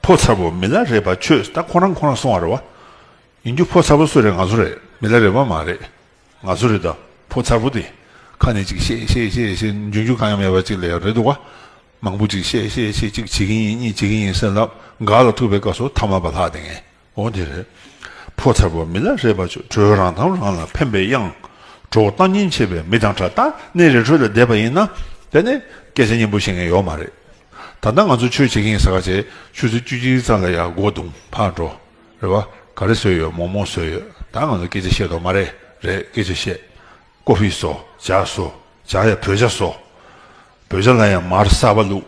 ཕོ་མཚར་བོ་མི་ལ་རས་པ་ཁྱོད་ད་ཁོ་རང་ཁོ་རང་སོང་བ་རེད་བ། ཡིན་རྒྱུ་ཕོ་མཚར་བོ་སུ་རེད་ང་ཚོ་རེད་མི་ལ་རས་པ་མ་རེད་ང་ཚོ་རེད་ད་ཕོ་མཚར་བོ་དེ་ཁ་ནས་ཅིག་བཤད་བཤད་བཤད་བཤད་འཇོན་རྒྱུ་གང་ཡང་མེད་པ་ཅིག་ལས་རེད་འདུག་བ། མང་པོ་ཅིག་བཤད་བཤད་བཤད་ཅིག་བྱེད་ཀྱིན་ཡིན་གཉིས་བྱེད་ཀྱིན་ཡིན་སེམས་ལ་འགག་ལ་ཐུག་པའི་སྐབས་སུ་ཐ་མ་བ་ལྷག་དེ་ངས། འོ་དེ་རེད། ཕོ་མཚར་བོ་མི་ལ་རས་པ་ཆུ་དྲོད་རང་དང་རང་ལ་ཕན་པའི་དབྱངས། གྲོགས་བོ་སྟངས་ཉིན་ཆེ་བའི་མི་དང་འདྲ་ད་ནི་རི་ཁྲོད་ལ་བསྡད་པ་ཡིན་ན། དེ་ནི་སྐད་ཆ་སྙན་པོ་བཤད་མཁན་ཡོག་མ་རེད། ད་ལྟ་ང་ཚོ་ཆོས་བྱེད་མཁན་ཟ་ག་བྱས་ཆུ་ཚོད་བཅུ་གཅིག་ཙམ་ལ་ཡར་སྒོ་རྡུང་ཕར་འགྲོ། རེད་བ། ག་རེ་ཟོས་ཡོད་མོག་མོག་ཟོས་ཡོད་ད་ང་ཚོ་སྐད་ཆ་བཤད་དོག་མ་རེད་རེད་སྐད་ཆ་བཤད། ཀོ་ཧྥི་ཟོ་ཇག་ཟོ་ཇག་ཡ་བོད་ཇག་ཟོ། བོད་ཇག་ལ་ཡང་མར་གསར་བ་བླུགས།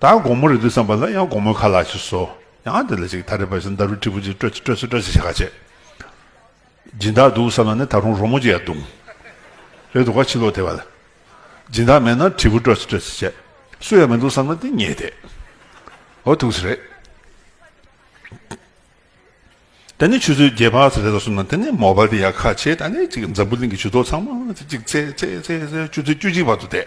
ད་དགོང་མོ་རེད་འདུག་བསམ་པ་ལ་ཡང་དགོང་མོའི་ཁ་ལག་ཅིག་བཟོ། ཡང་དེ་ལ་ཅིག་ད་རེས་པ་ཞིག་མདའ་རུ་དཀྲིས་པོ་ཅིག་སྤྲོད་ཅིག་སྤྲོད་ཅིག་སྤྲོད་ཅིག་ཞེས་ཁ་ཆེ་སྦྱིན་བདག་འདུག་བསམ་ན་ནི་ད་རུང་རོ་མོ་ཅིག་ཡར་བརྡུང། རེད་འདུག་ག་ཕྱི་ལོག་དེ་བ་ལ་སྦྱིན་བདག་མེད་ན་དྲིལ་བུ་སྤྲོད་ཅིག་སྤྲོད་ཅིག་བྱས། སུ་ཡང་མི་འདུག་བསམ་ན་དེ་ཉེས་ཏེ། འོ་ཐུགས་ཆེ་རེད། ད་ནི་ཆུ་ཚོད་བརྒྱད་བར་རེད་ལ་སོང་ན་དེ་ནི་མོ་པ་དེ་ཡང་ཁ་ཆེ་ད་ནི་ཅིག་འཛམ་བུ་གླིང་གི་ཇུས་གཏོགས་ཚང་མ་ཅིག་ཅིག་ཚེ་ཚེ་ཚེ་ཚེ་ཆུ་ཚོད་བཅུ་གཅིག་བར་དུ་བསྡད།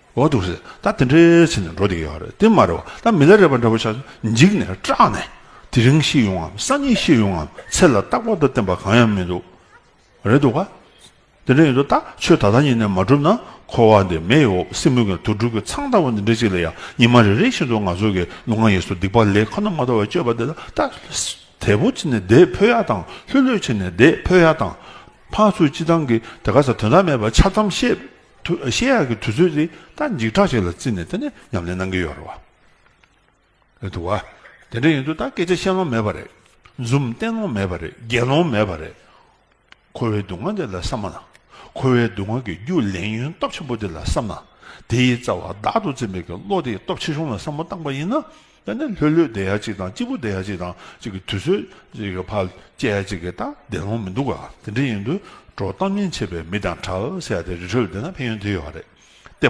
འོ་འདུག་ཟེར་ད་དེ་འདྲའི་ཚེ་ནི་འགྲོ་བདེ་ཡོད་རེད་དེ་མ་རེད་བ་ད་མི་ལ་རེ་བ་འདྲ་བོ་ཆགས་འཇིགས་ནས་སྐྲག་ནས་དེ་རིང་ཤི་ཡོང་ངམ་སང་ཉིན་ཤི་ཡོང་ངམ་ཚེ་ལ་རྟག་པར་དུ་བརྟེན་པ་གང་ཡང་མི་འདུག་རེད་འདུག་ག་དེ་འདྲ་ཡིན་དུ་ད་ཆོས་ད་ལྟ་ཉིད་ནས་མ་བསྒྲུབ་ན་འཁོར་བ་འདི་མེ་ཡི་འོབས་སེ་མུག་གི་དུར་སྒྲུག་གི་ཚང་ལྟ་བུ་འདི་འདྲ་ཅིག་ལ་ཡང་ཉི་མ་རེ་རེ་བཞིན་དུ་ང་ཚོ་གི་ནུ་ངག་ཡིས་སུ་སྡིག་པ་ལས་ཁོ་ན་མ་ཐོབ་བར་སྤྱོད་པ་འདི་ལ་ད་དལ་བུ་ཆེ་ནས་དེད་ཕོད་ཡ་དང་ལྷོད་ལྷོད་ཆེ་ནས་དེད་ཕོད་ཡ་དང། ཕག་ཚུལ་སྤྱི་བཏང་གིས་དེ་ག་ས་དོན་དག་མེད་པར་འཆལ་གཏམ་བཤད། ཤེས་ཡག་གི་དུས་ཚོད་དེ་ད་འཇིགས་སྐྲག་ཅིག་ལ་བརྩིས་ནས་དེ་ནས་ཉམས་ལེན་གནང་གི་ཡོད་རེད་བ། དུ་བ། དེ་འདྲ་ཡིན་དུས་ད་སྐད་ཆ་བཤད་ལོང་མེད་པ་རེད། འཛུམ་བསྟན་ལོང་མེད་པ་རེད་རྒྱལ་ལོང་མེད་པ་རེད། ཁོ་བོའི་སྡུག་བསྔལ་དེ་ལ་བསམ་མ་ན། ཁོ་བོའི་སྡུག་བསྔལ་གྱི་རྒྱུ་ལེན་ཡོན་སྟོབས་ཆེན་པོ་དེ་ལ་བསམ་ན། དེའི་རྩ་བ་བདག་ཏུ་འཛིན་པའི་གི་བློ་དེའི་སྟོབས་ཆེ་ཆུང་ལ་བསམ་བློ་བཏང་པ་ཡིན་ན། དཔེར་ན་ལྷོད་ལྷོད་བསྡད་ཡ་གཅིག་དང་སྐྱིད་པོ་བསྡད་ཡ་གཅིག་དང་གཅིག་གི་དུས་ཚོད་ཕར་བསྐྱལ་ཡ་གཅིག་གིས་ད་བདེ་ལོང་མི་འདུག་ག་དེ་འདྲའི་ཡིན་དུས་འགྲོ་སྟངས་ཉེན་ཆེ་བས་མི་དང་གྲལ་བཤེར་ཡ་དེ་རི་ཁྲོད་བསྡད་ན་ཕན་ཡོན་དེ་ཡོད་རེད་དེ།